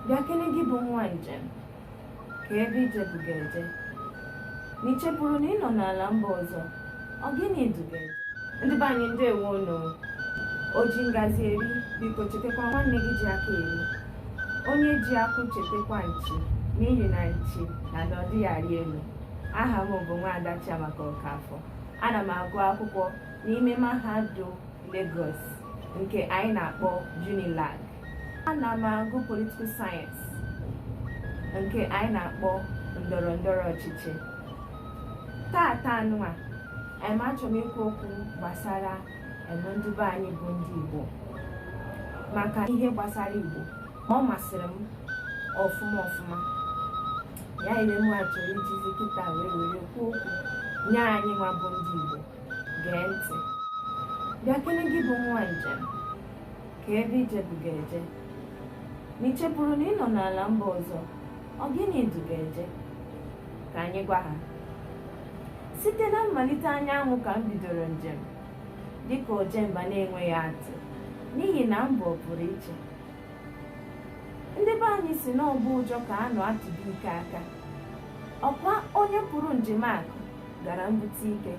bịa kene gị bụ nwa njem kee ebe ije bu gị eje na i chefuru na ị nọ n'ala mba ọzọ ọ gịnị du gị eje ndị be anyị ndewo nụ o ji ngazi eri biko chetakwa nwanne gị ji aka eri onye ji akwụ chetakwa nchi n'ihi na nchi na na ọ dịghị arị elu aha m bụ nwaada Chiamaka Okafọ ana m agụ akwụkwọ n'ime mahadum Lagos nke anyị na-akpọ Unilag ana m agụ political science nke anyị na-akpọ ndọrọ ndọrọ ọchịchị tata anụnwa anyị achọrọ m ikwu okwu gbasara eme ndị be anyị bụ ndị Igbo maka ihe gbasara Igbo ma ọ masịrị m ọfụma ọfụma ya mere m achọrọ ijizi kịta wee were kwuo okwu nye anyị nwa bụ ndị Igbo gee ntị bịa kene gị bụ nwa njem kee ebe ije bu gị eje na i chefuru na ị nọ n'ala mba ọzọ ọ gịnị du gị eje ka anyị gwa ha site na mmalite anyanwụ ka m bidoro njem dịka ojemba na-enweghị atụ n'ihi na m bụ ọpụrụiche ndị be anyị sị n'ọgbọ ụjọ ka a nọ atụ dike aka ọ kwa onye pụrụ njem akụ gara mbute ike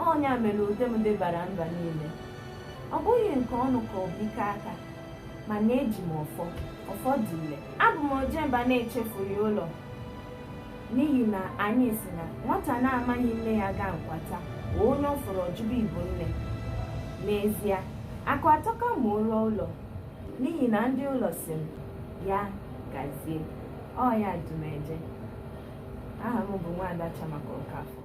ọ nya mere ude m debara mba niile ọ bụghị nke ọnụ ka ọ bụ ike aka mana eji m ọfọ ọfọ dị ile abụ m ojemba na-echefughị ụlọ n'ihi na anyị sị na nwata na-amaghị nne ya gaa nkwata onye ọ fụrụ ọ jụba ị bụ nne n'ezie akụ atọka ma o ruo ụlọ n'ihi na ndị ụlọ sị m ya gazie ọ ya du m eje aha m bụ nwaada Chiamaka Okafor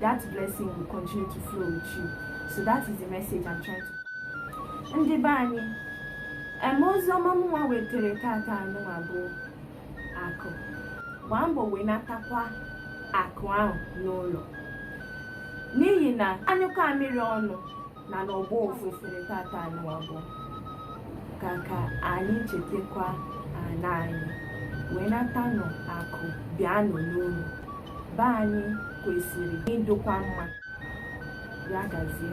that blessing will continue to flow with you so that is the message I'm trying to ndị be anyị eme ozi ọma mụnwa wetara tata anụnwa bụ akụ gbaa mbọ wenatakwa akụ ahụ n'ụlọ n'ihi na a nyụkọ amịrị ọnụ na ọ na-agbọ ụfụfụ tata anụnwa bụ ka ka anyị chetakwa ana anyị wenatanụ akụ bịanụ n'ụlọ be anyị kwesịrị ịdụkwa mma ya gazie